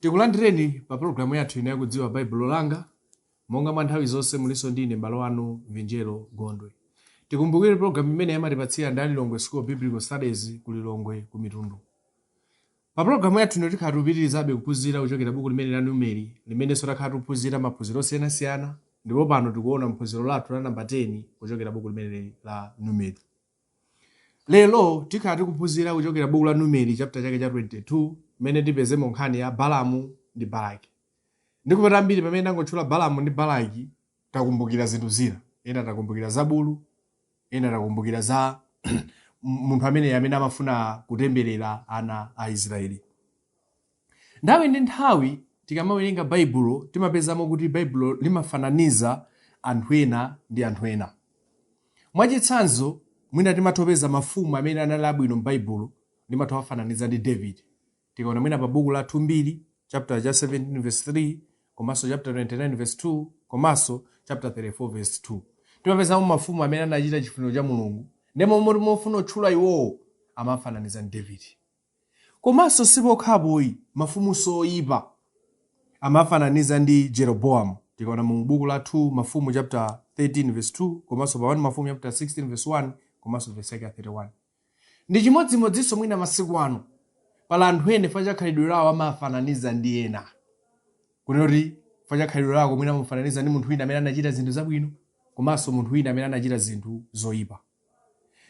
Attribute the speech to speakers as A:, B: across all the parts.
A: tikulandireni pa pologalamu yathu ino yakudziwa baibulo langa monga mwa nthawi zonse muliso ndi ine mbale wanu vinjero gondwe tikumbukire pologalamu imeneyi amatipatsira ndi a lilongwe school of biblical studies ku lilongwe ku mitundu pa pologalamu yathu ino tikhala tikupitirizabe kuphunzira kuchokera buku limene la numeri limenenso takhala tikuphunzira maphunziro osiyanasiyana ndipo pano tikuona phunziro lathu la namba 10 kuchokera buku limeneli la numeri Lero tikhala tikuphunzira kuchokera buku la Numeri chapter chake cha 22 mmene tipezemo nkhani ya Balamu ndi Balaki. Ndikupata ambiri pamene ndangotchula Balamu ndi Balaki takumbukira zinthu zina. Ena takumbukira za bulu, ena takumbukira za munthu amene amene amafuna kutemberera ana a Israeli. Nthawi ndi nthawi tikamawerenga Baibulo timapezamo kuti Baibulo limafananiza anthu ena ndi anthu ena. Mwachitsanzo, mwina timatha kupeza mafumu amene anali abwino m'Baibulo limatha kuwafananiza ndi Davide. Tikaona mwina pa buku la 2 Mbiri chaputala cha 17 vesi 3 komanso chaputala 29 vesi 2 komanso chaputala 34 vesi 2 timapezamo mafumu amene anachita chifuniro cha Mulungu ndipo moti mofuna kutchula iwowo amawafananiza ndi Davide. Komanso si pokhapo ayi, mafumunso oipa amawafananiza ndi Jeroboam. Tikaona mu buku la 2 Mafumu chapter 13 verse 2 komanso pa 1 Mafumu chapter 16 verse 1 komanso verse yake ya 31. Ndi chimodzimodzinso mwina masiku ano. Pali anthu ena chifukwa cha khalidwe lawo amawafananiza ndi ena. Kunena kuti chifukwa cha khalidwe lako mwina amamufananiza ndi munthu wina amene anachita zinthu zabwino komanso munthu wina amene anachita zinthu zoipa.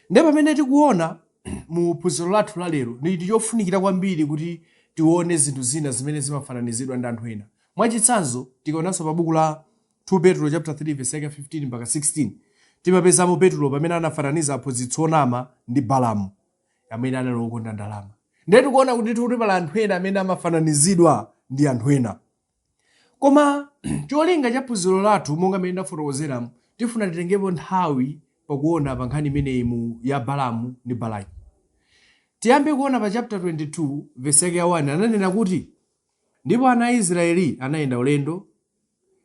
A: Ndiye pamene tikuona mu phunziro lathu la lero, ndi chinthu chofunikira kwambiri kuti tione zinthu zina zimene zimafananizidwa ndi anthu ena. Mwachitsanzo, tikaonanso pa buku la 2 Petulo chapter 3 verse yake 15 mpaka 16, timapezamo Petulo pamene anafananiza aphunzitsi onama ndi Balamu amene anali wokonda ndalama. Ndiye tikuona kuti ndithu kuti pali anthu ena amene amafananizidwa ndi anthu ena. Koma cholinga cha phunziro lathu monga mmene ndafotokozeramu, tifuna titengepo nthawi pakuona pa nkhani imeneyi mu ya Balamu ndi Balaki. Tiyambe kuona pa chapter 22 verse yake ya 1 ananena kuti ndipo ana a Israeli anayenda ulendo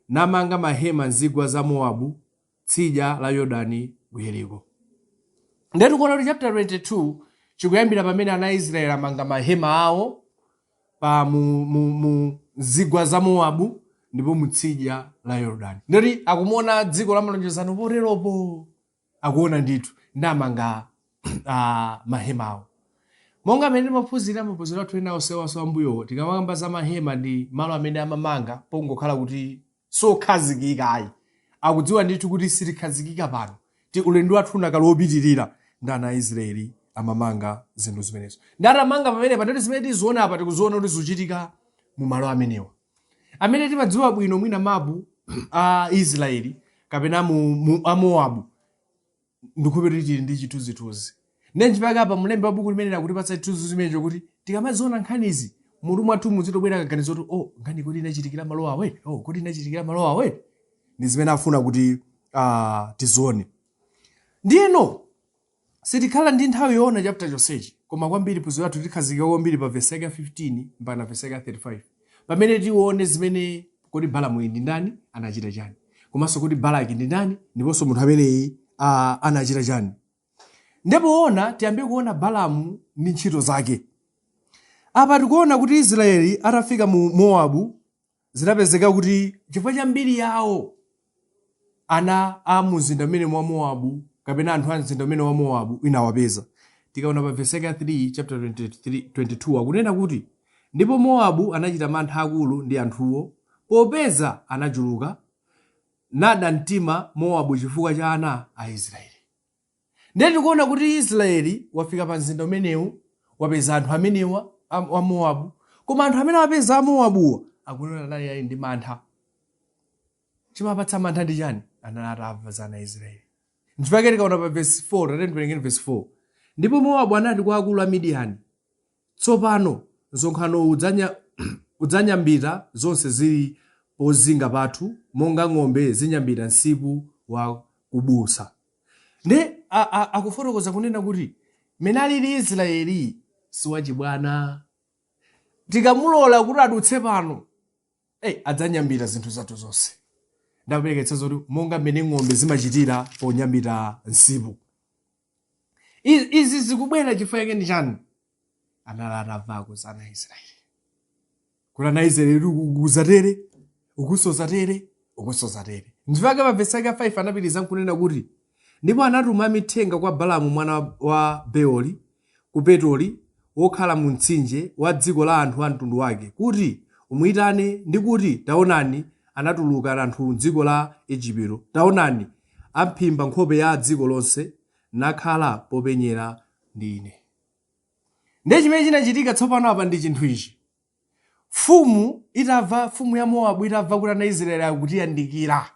A: namanga mahema m'zigwa za Mowabu tsidya la Yordani ku Yeriko. Ndiye tikuona kuti chapter 22 chikuyambira pamene ana a Israeli amanga mahema awo pa mu, mu, mu zigwa za Mowabu ndipo mu tsidya la Yordani. Ndoti akumuona dziko la malonjezano poteropo akuona ndithu ndi amanga ah, mahema awo. Monga mmene timaphunzira maphunziro athu ena onsewaso am'mbuyowo tikamakamba za mahema ndi malo amene amamanga pongokhala kuti sokhazikika ayi akudziwa ndithu kuti sitikhazikika pano ulendo wathu unakali wopitirira nde ana a israeli amamanga zinthu zimenezo nde atamanga pamene patati zimene tiziona apa tikuziona kuti zikuchitika mu malo amenewa amene timadziwa bwino mwina mapu a israeli kapena mu, mu, a mowabu ndikhulupirira kuti tili ndi chithunzithunzi ndiye nchifukwa chake apa mlembi wa buku limeneli akutipatsa chithunzithunzi chimenecho kuti tikamaziona nkhanizi mutu mwathu muzitobwera kaganizo kuti oh nkhani kodi inachitikira malo awa oh kodi inachitikira malo awa ndi zimene afuna kuti uh, tizione ndiyeno sitikhala ndi nthawi yoona chapter chonsechi koma kwambiri phunziro lathu tikhazikika kwambiri pa vesi yake 15 mpaka vesi yake 35 Pamene tione zimene kodi Balamuyi ndi ndani, anachita chani, komanso kodi Balaki ndi ndani ndiponso munthu ameneyi ah, anachita chani. Ndipo poyamba tiyambe kuona Balamu ndi ntchito zake. Apa tikuona kuti Israeli atafika mu Mowabu zinapezeka kuti chifukwa cha mbiri yawo ana a mumzinda umenemu wa mowabu kapena anthu a mzinda umenewu wa mowabu inawapeza tikaona pa vesi yake ya 3 chapter 23, 22 akunena kuti ndipo mowabu anachita mantha akulu ndi anthuwo popeza anachuluka nada mtima mowabu chifukwa cha ana a israeli Ndiye tikuona kuti Israeli wafika pa mzinda umenewu, wapeza anthu amenewa a, a Mowabu. Koma anthu amene wapeza a Mowabuwa akunena anali ali ndi mantha. Chimawapatsa mantha ndi chani? Anali atamva za ana a Israeli. Nchifukwa tikaona pa verse 4, tiyeni tiwerenge verse 4. Ndipo Mowabu anati kwa akulu a Midiyani, Tsopano, msonkhanowu udzanya, udzanyambita zonse ziri pozinga pathu, monga ng'ombe zinyambita nsipu wa kubusa. Nde, a, a, akufotokoza kunena kuti, mmene aliri Israeli si wachibwana. Tikamulola kuti adutse pano, ei, adzanyambita zinthu zathu zonse. Nde akupereka chitsanzo choti monga mmene ng'ombe zimachitira ponyambita nsipu. I- izi zikubwera chifukwa chake ndi chani anali atamvako za ana a israeli kuti ana a israeli uku zatere ukunso zatere ukunso zatere nchifukwa chake pa vesi yake ya 5 anapitiriza nkunena kuti ndipo anatuma amithenga kwa balamu mwana wa beoli ku petoli wokhala mu mtsinje wa dziko la anthu a mtundu wake kuti amuyitane ndi kuti taonani anatuluka anthu m'dziko la ejipito taonani Aphimba nkhope ya dziko lonse, nakhala popenyera ndi ine. Ndiye chimene chinachitika tsopano apa ndi chinthu ichi. Mfumu itamva, mfumu ya Mowabu itamva kuti ana a Israeli akutiyandikira,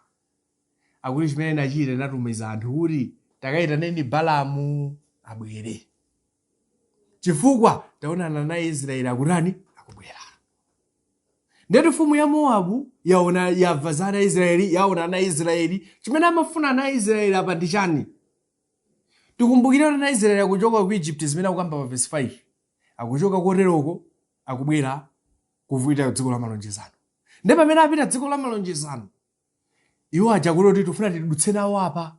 A: akuti chimene inachita inatumiza anthu kuti takayitaneni Balaamu abwere. chifukwa taonani ana israeli akutani akubwera nde kuti mfumu ya mowabu yaona yamva za ana israeli yaona ana israeli chimene amafuna ana israeli apa ndi chani tikumbukire kuti ana israeli akuchoka ku egypt zimene akukamba pa vesi 5 akuchoka koteroko akubwera kuvuita dziko la malonjezano ndipo pamene apita dziko la malonjezano iwo aja kuti kuti tifuna tidutse nawo apa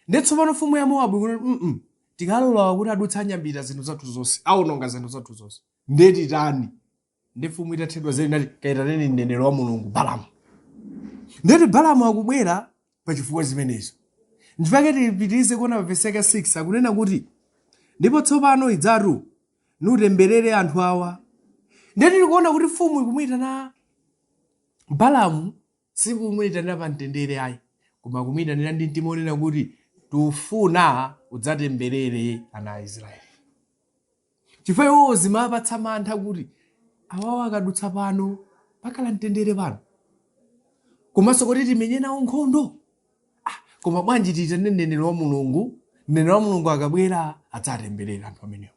A: Ndiye tsopano mfumu ya Mowabu ikunena kuti, mm tikalola kuti adutse anyambita zinthu zathu zonse, awononga zinthu zathu zonse, ndiye titani? Ndiye mfumu itathedwa nzeru inati, kaitaneni mneneri wa Mulungu Balamu. Ndiye kuti Balamu akubwera pa chifukwa zimenezo. Ndipo tipitirize kuona pa vesi yake 6 akunena kuti, ndipo tsopano idzatu nunditemberere anthu awa. Ndiye tikuona kuti mfumu ikumuyitana Balamu Si kumuitanira pamtendere ayi, koma kumuitanira ndi mtima wonena kuti tufuna udzatemberere ana a Israeli. Chifukwa iwowo zimawapatsa mantha kuti awawa akadutsa pano pakhala mtendere pano, komanso kuti timenye nawo nkhondo. Ah, koma bwanji tiitane mneneri wa Mulungu? Mneneri wa Mulungu akabwera adzatemberera anthu amenewo.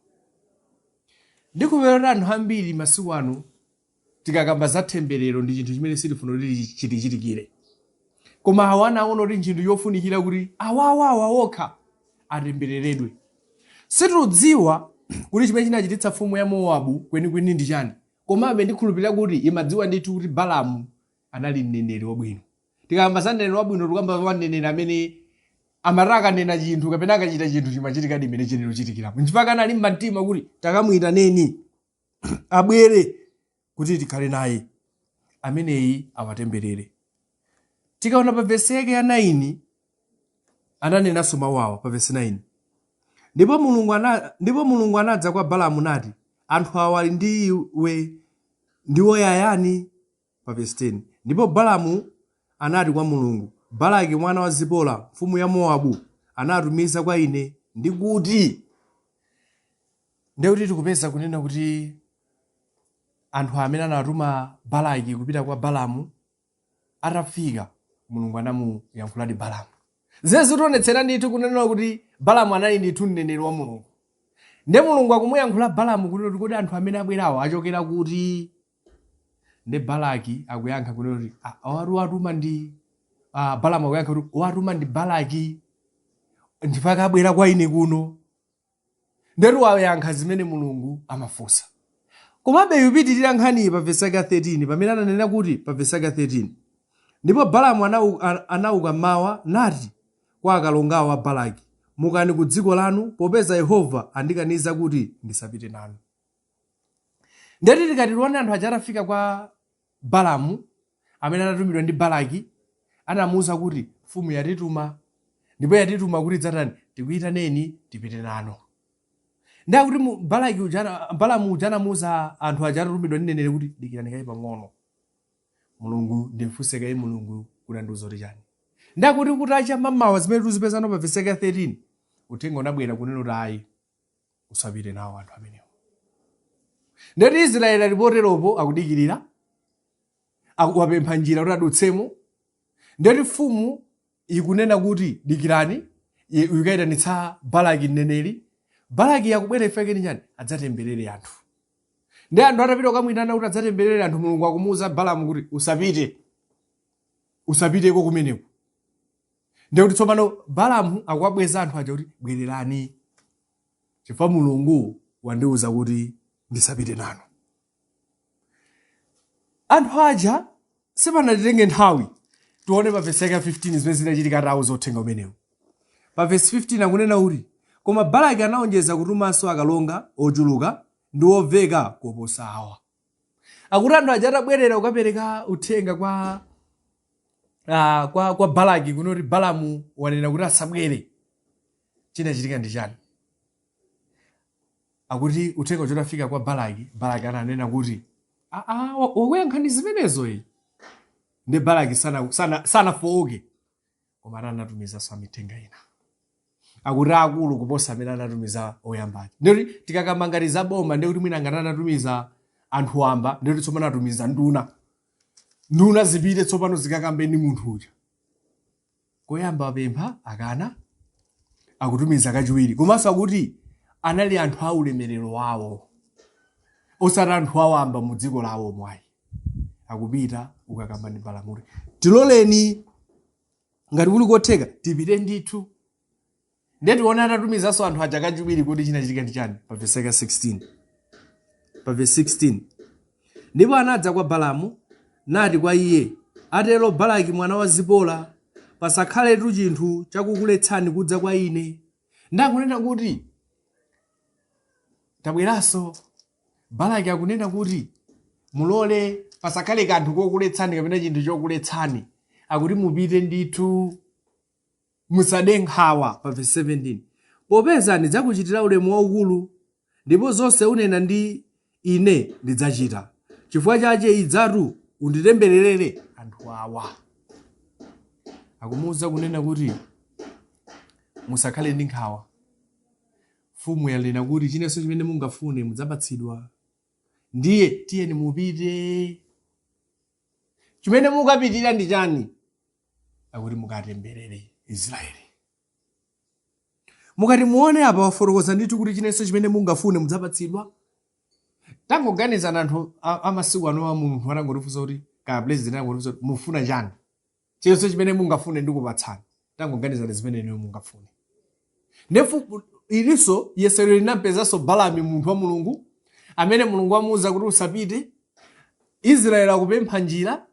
A: Ndiye tikupeza kuti anthu ambiri masiku ano tikakamba za temberero ndi chinthu chimene sitifuna kuti chitichitikire koma awa anaona kuti ntchinthu yofunikira kuti awawawa okha atembereredwe sitikudziwa kuti chimene chinachititsa mfumu ya mowabu kwenikweni ndi chani komabe ndikhulupirira kuti imadziwa ndithu kuti balamu anali mneneri wabwino tikakamba za mneneri wabwino tikukamba za mneneri amene amati akanena chinthu kapena akachita chinthu chimachitikadi mmene chinayenera kuchitikirapo nchifukwa anali mumtima kuti takamuyitaneni abwere kuti tikhale naye ameneyi awatemberere tikaona pa vesi yake ya 9 ananenanso mawu awa pa vesi 9 ndipo mulungu, ana, ndipo mulungu anadza kwa balamu nati anthu awa ali ndi iwe ndiwo ayani Pa vesi 10 Ndipo Balamu anati kwa Mulungu, Balaki mwana wa Zipora, mfumu ya Mowabu, anatumiza kwa ine, ndi kuti, Ndiye kuti tikupeza kunena kuti anthu amene anatuma Balaki kupita kwa Balamu atafika, Mulungu anamuyankhuladi Balamu. Zimene zitionetsera ndithu kunena kuti Balamu anali ndithu mneneri wa Mulungu. Ndiye Mulungu akumuyankhula Balamu kunena kuti kodi anthu amene abwerawo achokera kuti? Nde Balaki akuyankha kunena kuti "Ah, awatu watuma ndi ah, Balamu akuyankha kuti atumidwa ndi Balaki ndipo akabwera kwa ine kuno. Ndetu wayankha zimene Mulungu amafunsa. Komabe ikupitirira nkhaniyi pa vesi yake ya 13 pamene ananena kuti pa vesi yake ya 13 ndipo Balamu anau- a- anauka mmawa nati kwa akalongawo a Balaki, mukani ku dziko lanu popeza Yehova wandikaniza kuti ndisapite nanu. ndeti tikati tione anthu aja atafika kwa balamu amene anatumidwa ndi balaki anamuwuza kuti mfumu yatituma ndipo yatituma kuti titani tikuyitaneni tipite nanu ndiye kuti mu- balaki uja ana- balamu uja anamuwuza anthu aja atatumidwa ndi mneneri kuti dikirani kaye pang'ono mulungu ndimfunse kaye mulungu kuti andiuza kuti chani ndiye kuti kutacha mamawa zimene tikuzipeza ano pa vesi 13 uthenga unabwera kunena kuti ayi usapite nawo anthu amenewo ndiye kuti israeli ali poteropo akudikirira akuwapempha njira kuti adutsemo ndiye kuti mfumu ikunena kuti dikirani ye- ikayitanitsa balaki mneneri balaki akubwera afike kuti chani adzatemberere anthu ndiye anthu atapita kukamwitana kuti adzatemberere anthu mulungu akumuwuza balamu kuti usapite usapiteko kumeneko ndiye kuti tsopano balamu akuwabweza anthu aja kuti bwererani chifukwa mulungu wandiwuza kuti ndisapite nanu anthu aja sipanatenge nthawi tione pa vesi yake ya 15 zimene zinachitika atawuza uthenga umenewu pa vesi 15 akunena kuti koma balaki anaonjeza kutumanso akalonga ochuluka ndi oveka koposa awa akuti anthu aja atabwerera kukapereka uthenga kwa ah, kwa, kwa balaki kuno kuti balamu wanena kuti asabwere chinachitika ndi chani akuti uthenga uja utafika kwa balaki balaki ananena kuti "Ah, ah, wa- wakuyankhani zimenezo ayi ndiye balaki sanafooke sana, sana sanafooke. koma ati anatumizanso amithenga ena akuti akulu kuposa amene anatumiza oyamba aja ndiye kuti tikakamba ngati za boma ndiye kuti mwina ngati anatumiza anthu wamba ndiye kuti tsopano atumiza nduna nduna zipite tsopano zikakambe ndi munthu uja koyamba apempha akana akutumiza kachiwiri komanso akuti anali anthu a ulemerero wawo osati anthu awamba mu dziko lawomo ayi akupita kukakamba ndi balamu kuti tiloleni ngati kuli kotheka tipite ndithu ndiye tione atatumizanso anthu aja kachiwiri kuti chinachitika ndi chani pa vesi yake 16 pa vesi 16 ndipo anadza kwa balamu nati kwa iye atero balaki mwana wa zipola pasakhaletu chinthu chakukuletsani kudza kwa ine ndiye akunena kuti tabweranso Balaki akunena kuti, Mulole pasakhale kanthu kokuletsani kapena chinthu chokuletsani, akuti mupite ndithu, musade nkhawa. Pa vesi 17, popeza ndidzakuchitira ulemu waukulu, ndipo zonse unena ndi ine ndidzachita. Chifukwa chache idzatu unditembererere anthu awa. Akumuuza kunena kuti musakhale ndi nkhawa. Mfumu yanena kuti, Chilichonse chimene mungafune mudzapatsidwa. Ndiye tiyeni mupite. Chimene mukupitira ndi chani? Akuti mukatemberere Israeli. Mukati muone apa wafotokoza ndithu kuti chilichonse chimene mungafune mudzapatsidwa. Tangoganizani anthu a- amasiku ano a munthu atangotifunsa kuti kaya president atangotifunsa kuti mufuna chani? chilichonse chimene mungafune ndikupatsani tangoganizani zimene inuyo mungafune ndiye ilinso yesero linampezanso balamu munthu wa mulungu amene mulungu amuwuza kuti usapite israeli akupempha njira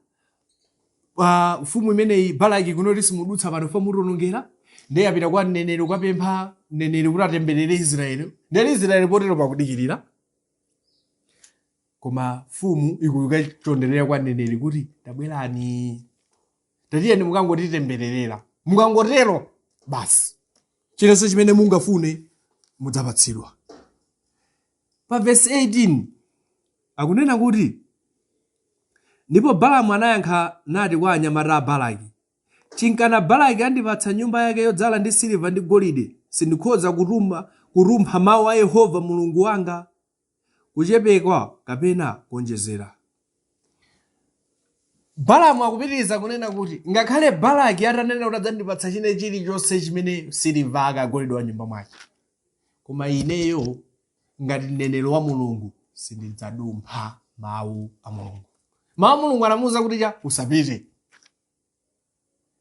A: ah, mfumu imeneyi balaki kunoko simudutsa pano poti mutiwonongera ndiye apita kwa mneneri kukapempha mneneri kuti atemberere israeli ndiye israeli potero pakudikirira koma mfumu ikukachonderera kwa mneneri kuti tabwerani tatiyeni mukangotitembererera mukangotero basi chilichonse chimene mungafune mudzapatsidwa pa vesi 18 akunena kuti ndipo balamu anayankha nati kwa anyamata a balaki chinkana balaki andipatsa nyumba yake yodzala ndi siliva ndi golide sindikhoza kutuma kurumpha mawu a yehova mulungu wanga kuchepsako kapena kuonjezera. Balamu akupitiriza kunena kuti ngakhale Balaki atanena kuti adzandipatsa chine chilichonse chimene siliva golide wa m'nyumba mwake, koma ineyo ngati mneneri wa Mulungu sindidzadumpha mawu a Mulungu. Mawu a Mulungu anamuwuza kuti cha usapite.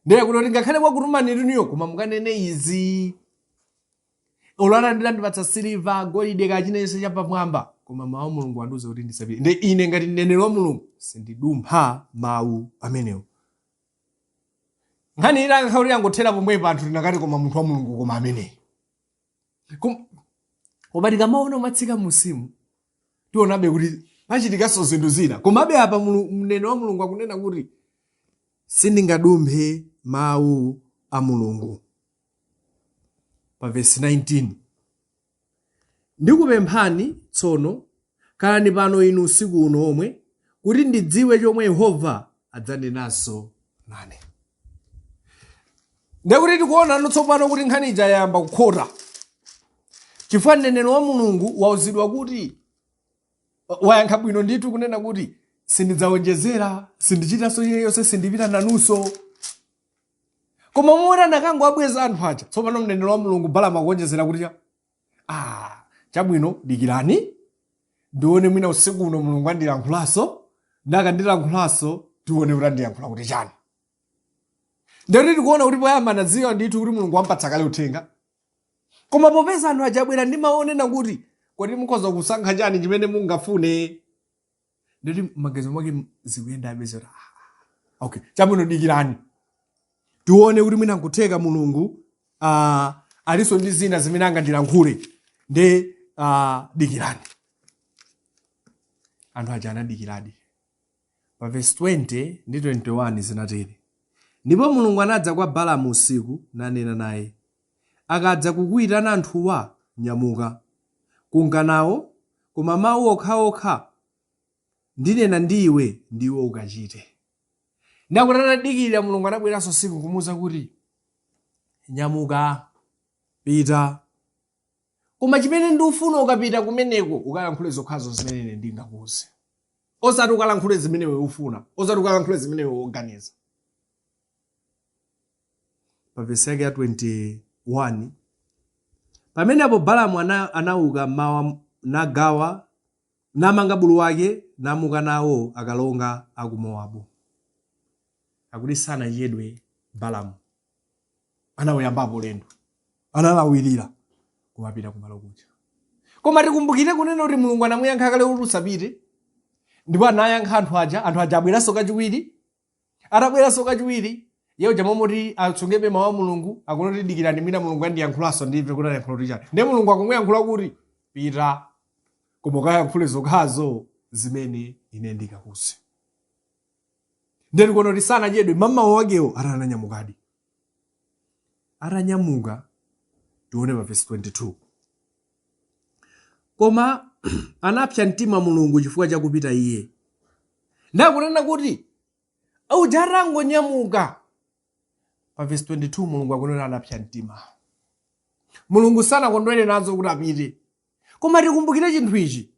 A: ndiye kuti ngakhale wakutumani inuyo koma mukanene izi olo angandipatsa siliva golide kaya chilichonse chapamwamba koma mawu a mulungu andiuza kuti ndisapite ndiye ine ngati mneneri wa mulungu sindidumpha mawu amenewo nkhani inakakhala kuti yangothera pomwepo anthu tinakati koma munthu wa mulungu koma ameneyu Kom- koma tikamaona kumatsika m'musimu tionabe kuti pachitikanso zinthu zina komabe apa Mulu- mneneri wa mulungu akunena kuti sindingadumphe mawu a mulungu pa vesi 19 ndikupemphani tsono Khalani pano inu usiku uno womwe, kuti ndidziwe chomwe Yehova adzanenanso nane. Ndekuti tikuonano tsopano kuti nkhani ija yayamba kukhota, chifukwa mneneri wa Mulungu wauzidwa kuti wayankha bwino ndithu kunena kuti sindidzawonjezera, sindichitanso chilichonse, sindipita nanunso. Koma momwe anakangowabweza anthu aja, tsopano mneneri wa Mulungu Balamu akuwonjezera kuti ya ah chabwino dikirani ndione mwina usiku uno mulungu andilankhulanso nde akandilankhulanso tione kuti andilankhula kuti chani ndekuti tikuona kuti poyamba anadziwa ndithu kuti mulungu wampatsa kale uthenga koma popeza anthu aja abwera ndi mau onena kuti kodi mukhoza kusankha chani chimene mungafune nde ati m'maganizo mwake zikuyendabe zoti "Ah, ah, okay chabwino dikirani tione kuti mwina nkutheka mulungu uh, alinso ndi zina zimene angandilankhule nde uh, dikirani anthu aja anadikiradi pa vesi 20 ndi 21 zinatero ndipo mulungu anadza kwa balamu usiku nanena naye Akadza kukuitana anthuwa, nyamuka, nunka nao, koma mau okhaokha ndinena ndi iwe, ndiwo ukachite. Ndiye akuti atadikirira, Mulungu anabweranso usiku nkumuuza kuti, Nyamuka, pita. Koma chimene ndifuna ukapita kumeneko, ukalankhule zokhazo zimene ine ndingakuuze. Osati ukalankhule zimene iwe ufuna, osati ukalankhule zimene iwe uganiza. pa vesi yake ya 21 pamenepo balamu ana, anauka mmamawa nagawa namanga bulu wake namuka nawo akalonga a ku mowabu akuti sanachedwe balamu anawuyambapo ulendo analawirira kumapita kumalo kuja koma tikumbukire kunena kuti mulungu anamuyankha kale kuti usapite ndipo anayankha anthu aja anthu aja abweranso kachiwiri Atabweranso kachiwiri, iye uja mmalo moti atsungebe mawu a Mulungu, akunena kuti dikirani mwina Mulungu andiyankhulanso ndimve kuti ayankhula kuti chani. Ndiye Mulungu akumuyankhula kuti pita koma ukayankhule zokhazo zimene ine ndikakuuze. Ndiye tikuona kuti sanachedwe mmamawa wakewo ati ananyamukadi. Atanyamuka tione pa vesi 22. koma anapsa mtima mulungu chifukwa chakupita iye nde akunena kuti uja atangonyamuka pa vesi 22 mulungu akunena anapsa mtima mulungu sanakondwere nazo kuti apite koma tikumbukire chinthu ichi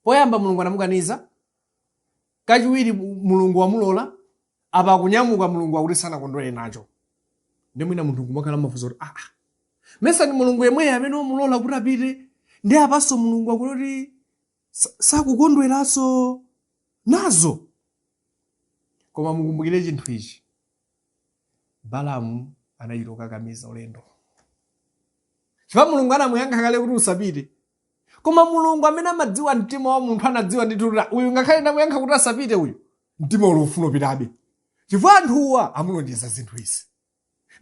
A: poyamba mulungu anamukaniza kachiwiri mulungu wamulola apa akunyamuka mulungu akuti sanakondwere nacho ndiye mwina munthu nkumakhala mafunso kuti aa mesa ndi mulungu yemweyo amene wamulola kuti apite ndi apanso mulungu akuti sa- sakukondweranso nazo koma mukumbukire chinthu ichi balamu anachita kukakamiza ulendo chifukwa mulungu anamuyankha kale kuti usapite koma mulungu amene amadziwa mtima wa munthu anadziwa ndithu kuti uyu ngakhale ndamuyankha kuti asapite uyu mtima uli ukufuna upitebe chifukwa anthuwa amulonjeza zinthu izi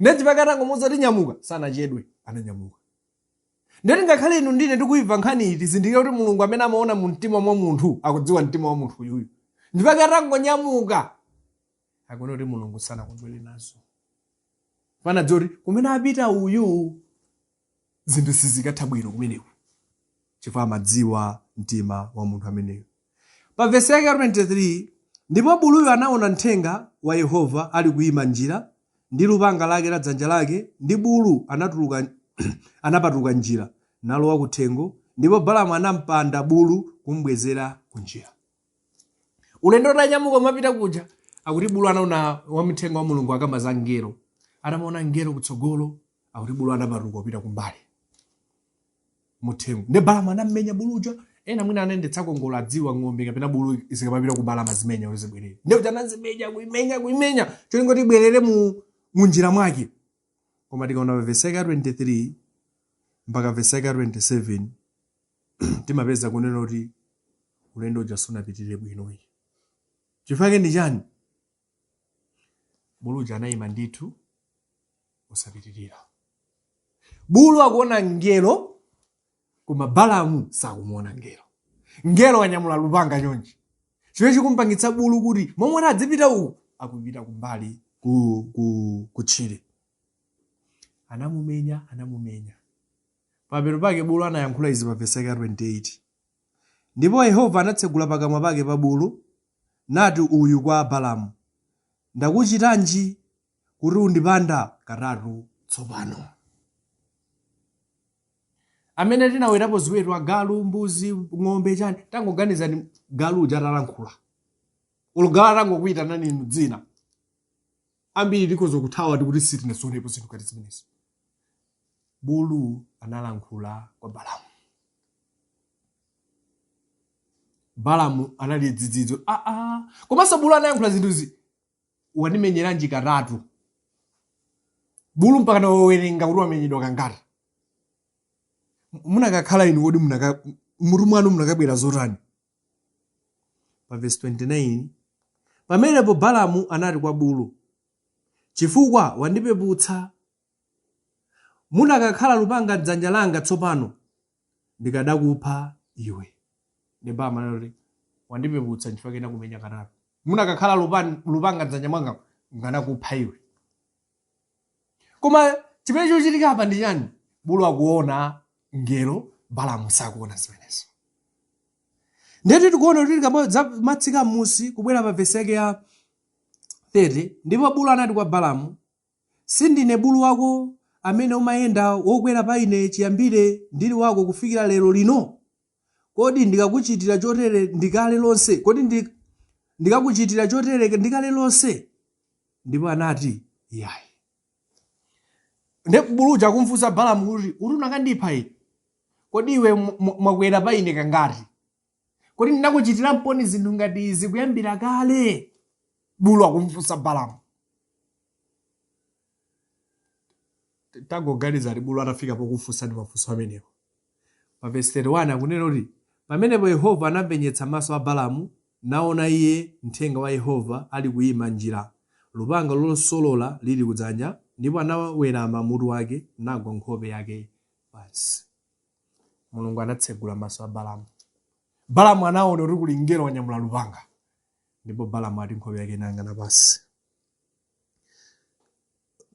A: nde nchifukwa chake atangomuuza kuti nyamuka sanachedwe ananyamuka ndeti ngakhale inu ndi ine tikuimva nkhani iyi tizindikire kuti mulungu amene amaona mu mtima mwa munthu akudziwa mtima wa munthu uyuyu nchifukwa chake atangonyamuka tikuona kuti mulungu sanakondwere nazo anadziwa kuti kumene akupita uyu zinthu sizikatha bwino kumeneko chifukwa amadziwa mtima wa munthu ameneyo pa vesi yake ya 23 ndipo buluyo anaona mthenga wa yehova ali kuyima m'njira ndi lupanga lake m'dzanja lake ndi bulu anatuluka anapatuka m'njira nalowa kuthengo ndipo balamu anampanda bulu kumbwezera kunjira ulendo utanyamuka umapita kuja akuti bulu anaona wamthenga wa mulungu akamba za mngelo anamaona mngelo kutsogolo akuti bulu anapatuka kupita kumbali muthengo nde balamu anammenya buluja ena mwina anayendetsako ngolo akudziwa ng'ombe kapena bulu zikamapita kumbali amazimenya kuti zibwerere nde kuti anazimenya kuimenya kuimenya cholinga kuti ibwerere mu munjira mwake koma tikaona vesi yake ya 23 mpaka vesi yake ya 27 timapeza kunena kuti ulendo uja sunapitirire bwino ayi chifukwa chake ndi chani bulu uja anayima ndithu osapitirira bulu akuona mngelo koma balamu sakumuona mngelo mngelo wanyamula lupanga chonchi chimene chikumpangitsa bulu kuti momwe kuti adzipita uku akupita kumbali ku, ku, kutchire anamumenya anamumenya Pamapeto pake bulu anayankhula izi pa vesi yake ya 28. Ndipo Yehova anatsegula pakamwa pake pa bulu, nati uyu kwa Balamu, Ndakuchitanji kuti undipanda katatu tsopano? Amene tinawetapo ziweto, agalu, mbuzi, ng'ombe, chani, tangoganizani galu uja atalankhula. Olo galu atangokuitanani inu dzina. Ambiri tikhoza kuthawa tikuti sitinaziwonepo zinthu ngati zimenezi. Bulu analankhula kwa Balamu. Balamu anali dzidzidzi, ah, ah. Komanso bulu anayankhula zinthuzi, wandimenyeranji katatu? Bulu mpaka nawerenga kuti wamenyedwa kangati? Munakakhala inu kodi munaka mutu mwanu munakabwera zotani? pa vesi 29 pamenepo balamu anati kwa bulu chifukwa wandipeputsa munakakhala lupanga mdzanja langa tsopano ndikadakupha iwe nde balamu anati wandipeputsa nchifukwa chake ndakumenya katatu munakakhala lupan- lupanga mdzanja mwanga nkanakupha iwe koma chimene chikuchitika apa ndi chani bulu akuona mngelo balamu sakuona zimenezo ndeti tikuona kuti tikamatsika m'musi kubwera pa vesi yake ya 30 ndipo bulu anati kwa balamu sindine bulu wako amene umayenda wokwera pa ine chiyambire ndili wako kufikira lero lino Kodi ndikakuchitira chotere ndi kale lonse? Kodi ndi, ndikakuchitira chotere ndi kale lonse? Ndipo anati, Iyayi. Nde buluja akumfunsa Balamu kuti, kuti unakandipha ine? Kodi iwe mwa- mwa- mwakwera pa ine kangati? Kodi ndinakuchitiramponi zinthu ngati izi kuyambira kale? Bulu akumfunsa Balamu. Tangoganizani bulu atafika pokufunsani mafunso amenewa. Pa vesi 31 akunena kuti, Pamenepo Yehova anampenyetsa maso a Balamu, naona iye mthenga wa Yehova alikuima m'njira, lupanga losolola lili kudzanja, ndipo anawerama mutu wake, nagwa nkhope yake pansi. Mulungu anatsegula maso a Balamu. Balamu anaona kuti kuli mngelo wanyamula lupanga, ndipo Balamu ati nkhope yake inayang'ana pansi.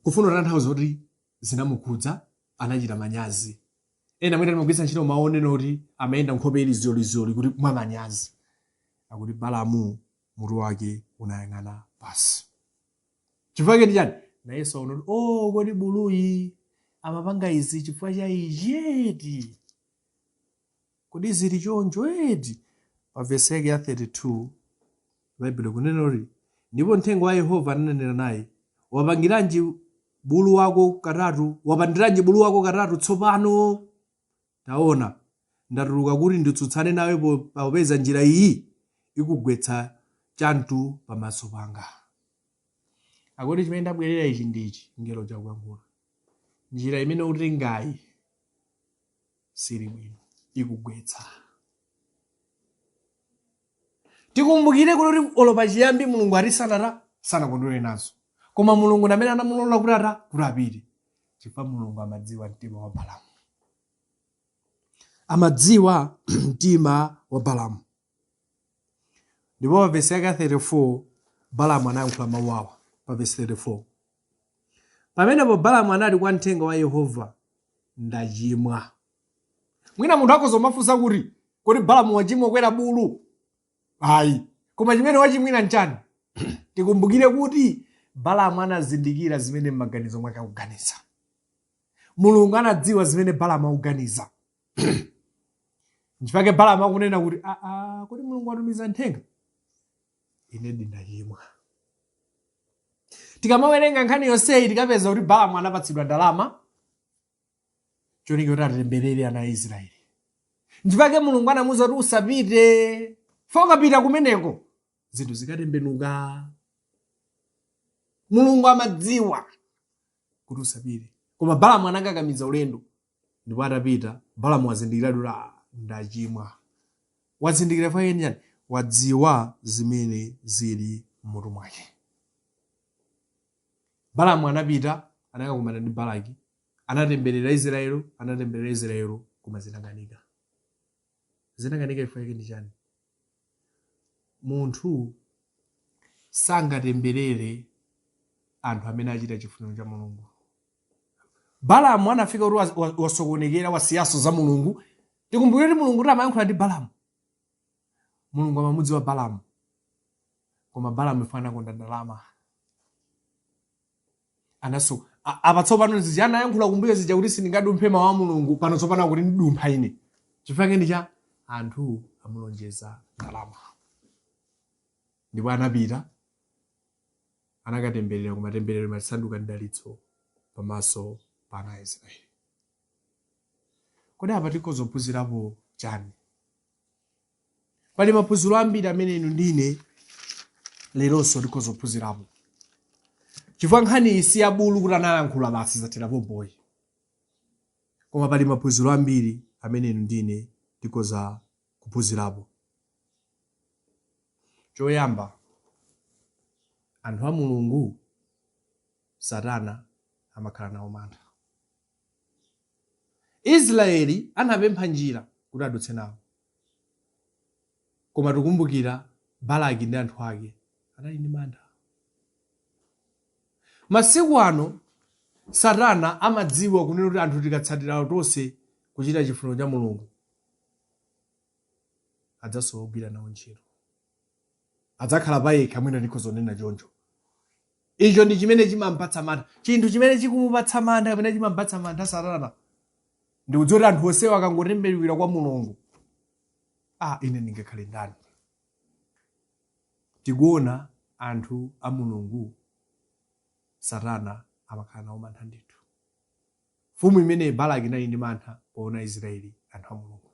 A: kufuna kutanthauza kuti zinamukhudza anachita manyazi ena amene timagwiritsa ntchito mawu onena kuti amayenda nkhope ili zyolizyoli kuti mwa manyazi akuti balamu mutu wake unayang'ana pansi chifukwa chake ndichani nayenso aona kuti o kodi buluyi amapanga izi chifukwa cha ichi eti Kodi ziri choncho eti? Pa vesi yake ya 32, Baibulo likunena kuti, Ndipo mthenga wa Yehova ananena naye, Wapangiranji bulu wako katatu? Wapandiranji bulu wako katatu tsopano? Taona, ndatuluka kuti nditsutsane nawe po- popeza njira iyi ikugwetsa chamutu pamaso panga. Akuti chimene ndabwerera ichi ndi ichi, mngeloja akuyankhula. Njira imene ukutengayi sili bwino ikugwetsa tikumbukire kuti kuti olo pachiyambi mulungu ati sanata sanakondwere nazo koma mulungu ndi amene anamulola kuti ata kuti apite chifukwa mulungu amadziwa mtima wa balamu amadziwa mtima wa balamu ndipo pa vesi yake ya 34 balamu anayankhula mawu awa pa vesi 34 pamenepo balamu anati kwa mthenga wa yehova ndachimwa mwina munthu akhoza kumafunsa kuti kodi balamu wachimwa kukwera bulu ayi koma chimene wachimwira nchani tikumbukire kuti balamu anazindikira zimene m'maganizo mwake akuganiza mulungu anadziwa zimene balamu akuganiza nchifake balamu akunena kuti aa kodi mulungu watumiza mthenga ine ndachimwa tikamawerenga nkhani yonseyi tikapeza kuti balamu anapatsidwa ndalama cholinga kuti atemberere ana a israeli nchifake mulungu anamuuza kuti usapite fokapita kumeneko zinthu zikatembenuka mulungu amadziwa kuti usapite koma balamu anakakamiza ulendo Ndipo atapita, Balamu wazindikiratu kuti, ah, ndachimwa. Wazindikira chifukwa chake ndi chani? Wadziwa zimene zili m'mutu mwake. Balamu anapita, anakakumana ndi Balaki, anatemberera Israel, anatemberera Israel, koma zinakanika. Zinakanika chifukwa chake ndi chani? Munthu sangatemberere anthu amene achita chifuniro cha Mulungu. Balamu anafika kuti wasokonekera wasiyaso za Mulungu. Tikumbukire kuti Mulungu kuti amayankhula ndi Balamu. Mulungu amamudziwa Balamu, koma Balamu chifukwa anakonda ndalama. anaso apa tsopano zija anayankhula kumbuyo zija kuti sindingadumphe mawu a mulungu pano tsopano akuti ndidumpha ine chifukwa chake ndi chani anthu amulonjeza ndalama ndipo anapita anakatemberera koma temberero limasanduka mdalitso pamaso pa ana a israeli kodi apa tikhoza kuphunzirapo chani pali maphunziro ambiri amene inu ndine leronso tikhoza kuphunzirapo chifukwa nkhani iyi si yabulu kuti analankhula basi zathera pompo ayi koma pali maphunziro ambiri amene inu ndine tikhoza kuphunzirapo choyamba anthu a mulungu satana amakhala nawo mantha Israyeli anapempha njira kuti adutse nawo. Koma tikumbukira Balaki ndi anthu ake anali ndi mantha. Masiku ano Satana amadziwa kunena kuti anthu tikatsatirawo tonse kuchita chifuniro cha Mulungu adzasowa ogwira nawo ntchito. Adzakhala payekha, mwina tikhoza kunena choncho. Icho ndi chimene chimampatsa mantha. Chinthu chimene chikumupatsa mantha kapena chimampatsa mantha Satana ndi kudziwa kuti anthu onsewa akangotembenuka kwa Mulungu, ah, ine ndingakhale ndani? Tikuona anthu a Mulungu, Satana amakhala nawo mantha ndithu. Mfumu imeneyi Balaki inali ndi mantha poona Aisiraeli, anthu a Mulungu.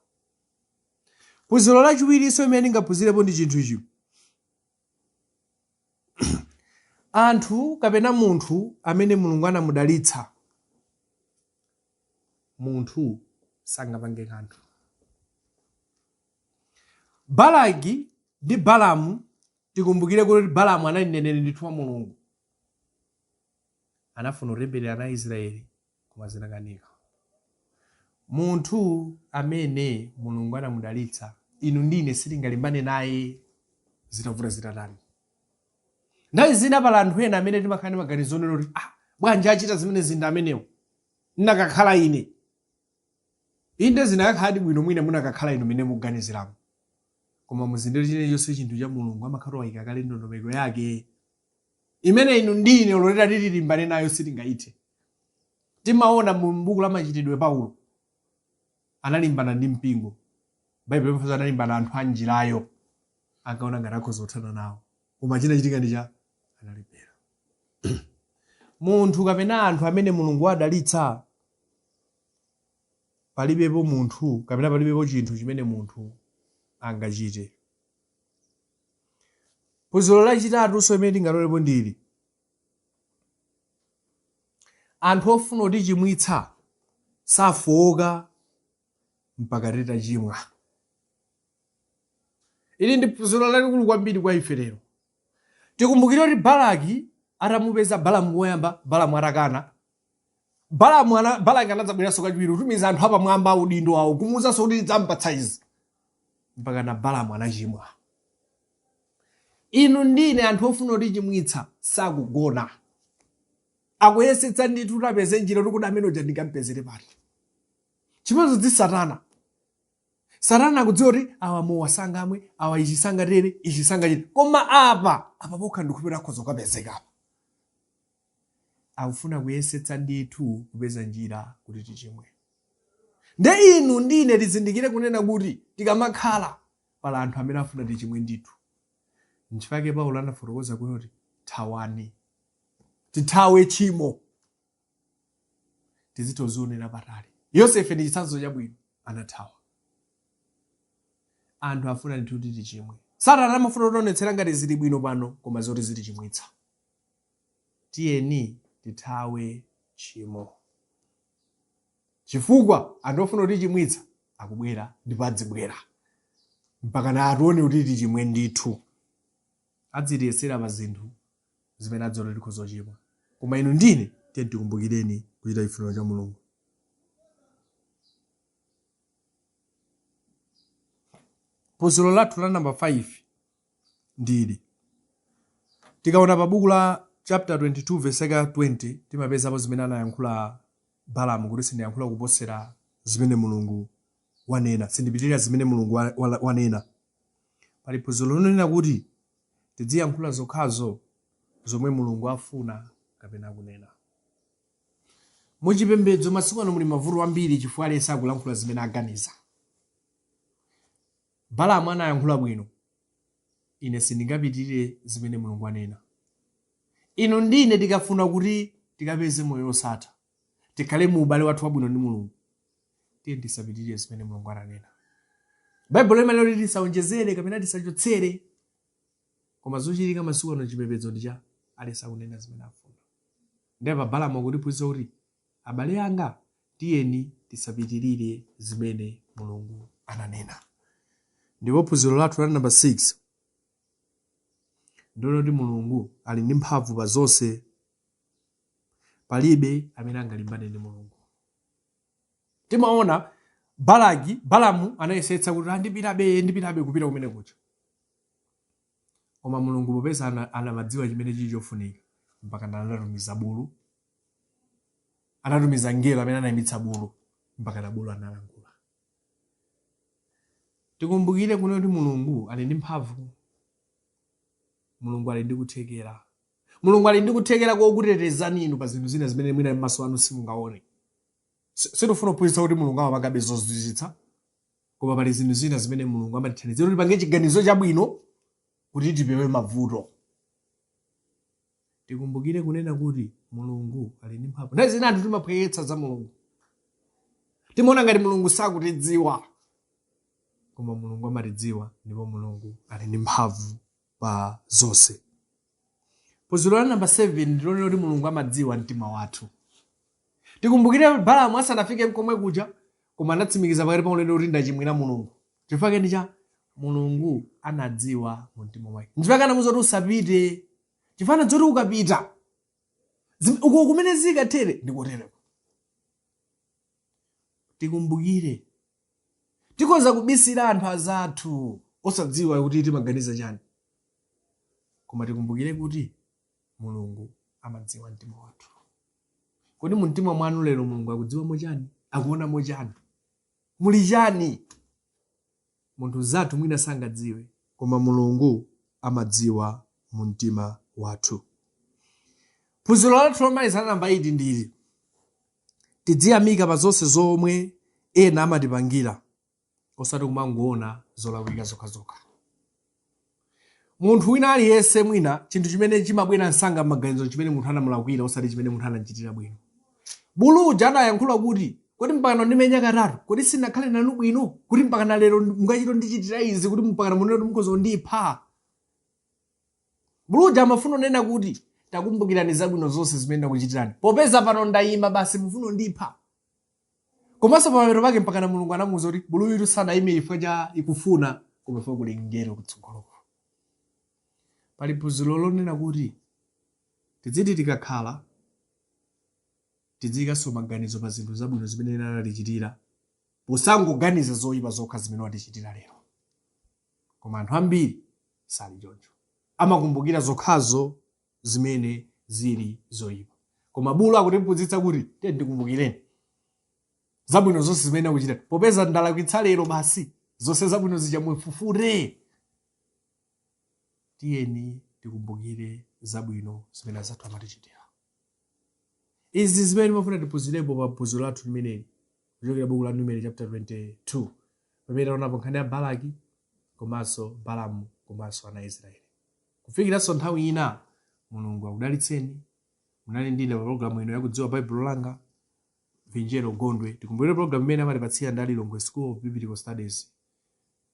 A: Phunziro lachiwirinso limene tingaphunzirepo ndi chinthu ichi. Anthu kapena munthu amene Mulungu anamudalitsa, munthu sangapange kanthu. Balaki ndi Balamu, tikumbukire kuti Balamu anali mneneri ndithu wa Mulungu. Anafuna kutemberera ana a Israeli koma zinakanika. Munthu amene Mulungu anamudalitsa, inu ndi ine sitingalimbane naye zitavuta zitatani. Nthawi zina pali anthu ena amene timakhala ndi maganizo onena kuti ah, bwanji achita zimene zija amenewo ndikanakhala ine inde zikanakhaladi bwino mwina mukanakhala inu mene muganiziramo koma muzindikire chilichonse chinthu cha mulungu amakhala wayika kale ndondomeko yake imene inu ndi ine olo titati tilimbane nayo sitingaithe timaona mu buku la machitidwe paulo analimbana ndi mpingo baibulo limafotokoza analimbana ndi anthu a njirayo ankaona ngati akhoza kuthana nawo koma chinachitika ndi chani analephera munthu kapena anthu amene mulungu wadalitsa palibepo munthu kapena palibepo chinthu chimene munthu angachite Phunziro lachitatunso limene tingatolepo ndi ili, Anthu ofuna kutichimwitsa safooka mpaka titachimwa. Ili ndi phunziro lalikulu kwambiri kwa ife lero. Tikumbukire kuti Balaki atamupeza Balamu koyamba, Balamu atakana, Balamu ana, Balaki anadzabweranso kachiwiri kutumiza anthu apamwamba a udindo awo kumuwuzanso kuti ndidzampatsa izi mpaka na Balamu anachimwa. Inu ndi ine anthu ofuna kutichimwitsa sakugona akuyesetsa ndithu kuti apeze njira kuti kodi amene uja ndingampezere pati chimodzimodzi satana satana akudziwa kuti awa mowa sangamwe awa ichi sangatere ichi sangachite koma apa apa pokha ndikupita akhoza kukapezeka apa akufuna kuyesetsa ndithu kupeza njira kuti tichimwe nde inu ndine tizindikire kunena kuti tikamakhala pali anthu amene afuna tichimwe ndithu nchifukwa chake paulo anafotokoza kuti thawani tithawe tchimo tizitoionera patali yosefe ndi chitsanzo chabwino anathawa anthu afuna ndithu kuti tichimwe satana amafuna kutionetsera ngati zili bwino pano koma zoti zitichimwitsa Tiyeni tithawe tchimo, chifukwa anthu ofuna kutichimwitsa akubwera ndipo adzibwera mpakana atione kuti tichimwe ndithu. Adzitiyesera pa zinthu zimene adziwa kuti tikhoza kuchimwa. Koma inu ndi ine tiyeni tikumbukireni kuchita chifuniro cha Mulungu. Phunziro lathu la namba 5 ndi ili. Tikaona pa buku la chapter 22 verse yake ya 20 timapezapo zimene anayankhula Balamu kuti sindiyankhula kuposera zimene Mulungu wanena, sindipitirira zimene Mulungu wa- wa- wanena. Pali phunziro lonena kuti tidziyankhula zokhazo zomwe Mulungu afuna kapena kunena. Muchipembedzo masiku ano muli mavuto ambiri chifukwa aliyense akulankhula zimene aganiza. Balamu anayankhula bwino. Ine sindingapitirire zimene Mulungu anena. Inu ndi ine tikafuna kuti tikapeze moyo wosatha, tikhale mu ubale wathu wabwino ndi Mulungu, tiye tisapitirire zimene Mulungu ananena. Baibulo limanena kuti tisaonjezere kapena tisachotsere, koma zochitika masiku ano chipembedzo ndi choti aliyense akunena zimene afuna. Ndiye pa Balamu akutiphunzitsa kuti Abale anga, tiyeni tisapitirire zimene Mulungu ananena. Ndipo phunziro lathu la namba 6 ndi lonena kuti Mulungu ali ndi mphamvu pa zonse. Palibe amene angalimbane ndi Mulungu. Timaona Balaki, Balamu anayesetsa kuti a ndipitabe, ndipitabe kupita kumene kuja. Koma Mulungu popeza ana- anamadziwa chimene chili chofunika, mpaka anatumiza bulu anatumiza mngelo amene anayimitsa bulu mpaka na bulu analankhula. Tikumbukire kuno kuti Mulungu ali ndi mphamvu, Mulungu ali ndi kuthekera, Mulungu ali ndi kuthekera kokutetezani inu pa zinthu zina zimene mwina m'maso anu simungaone. Si- Sitifuna kuphunzitsa kuti Mulungu amapangabe zozizwitsa, koma pali zinthu zina zimene Mulungu amatithandizira kuti tipange chiganizo chabwino kuti tipewe mavuto. tikumbukire kunena kuti mulungu ali ndi mphamvu nthawi zina anthu timaphweketsa za mulungu timaona ngati mulungu sakutidziwa koma mulungu amatidziwa ndipo mulungu ali ndi mphamvu pa zonse phunziro la namba 7 ndilonena kuti mulungu amadziwa mtima wathu tikumbukire balamu asanafike mkomwe kuja koma anatsimikiza pakati pa ulendo kuti ndachimwira mulungu chifukwa chake nchiyani mulungu anadziwa mu mtima mwake nchifukwa anamuuza kuti usapite chifukwa cha zoti ukapita zim- uko kumene zikatere ndikotereko tikumbukire tikhoza kubisira anthu azathu osadziwa kuti timaganiza chani koma tikumbukire kuti mulungu amadziwa mtima wathu kodi mu mtima mwanu lero mulungu akudziwamo chani akuonamo chani muli chani Munthu mzathu mwina sangadziwe. koma Mulungu amadziwa mu mtima wathu. Phunziro lathu lomaliza la namba 8 ndi ili, Tidziyamika pa zonse zomwe ena amatipangira osati kumangoona zolakwika zokhazokha. Munthu wina aliyense mwina chinthu chimene chimabwera msanga m'maganizo n'chimene munthu anamulakwira osati chimene munthu anam'chitira bwino. Bulu uja adayankhula kuti, Kodi mpakana ndimenya katatu? Kodi sindinakhale nanu bwino, kuti mpakana lero mukachite kundichitira izi, kuti mpakana munene kuti mukhoza kundipha? Bulu uja amafuna kunena kuti, Takumbukirani zabwino zonse zimene ndakuchitirani. Popeza pano ndaima basi mufuna kundipha? komanso pamapeto pake mpakana mulungu anamuuza kuti buluyutu sanaime chifukwa cha ikufuna koma chifukwa kuli mngelo kutsogoloko pali phunziro lonena kuti tidziti tikakhala tidziikanso maganizo pa zinthu zabwino zimene ena anatichitira posangoganiza zoyipa zokha zimene watichitira lero koma anthu ambiri sali choncho amakumbukira zokhazo zimene zili zoyipa koma bulu akutiphunzitsa kuti tiyeni tikumbukireni zabwino zonse zimene akuchita popeza ndalakwitsa lero basi zonse zabwino zija mufufute tiyeni tikumbukire zabwino zimene azathu amatichitira Izi ndi zimene timafuna tiphunzirepo pa phunziro lathu limeneli kuchokera buku la Numeri chapter 22 pamene taonapo nkhani ya Balaki komanso Balamu komanso ana a Israeli. Kufikiranso nthawi ina, Mulungu akudalitseni. Munali ndi ine pa pologalamu ino yakudziwa Baibulo langa Vinjero Gondwe. Tikumbukire pologalamu imeneyi amatipatsira ndi a Lilongwe School of Biblical Studies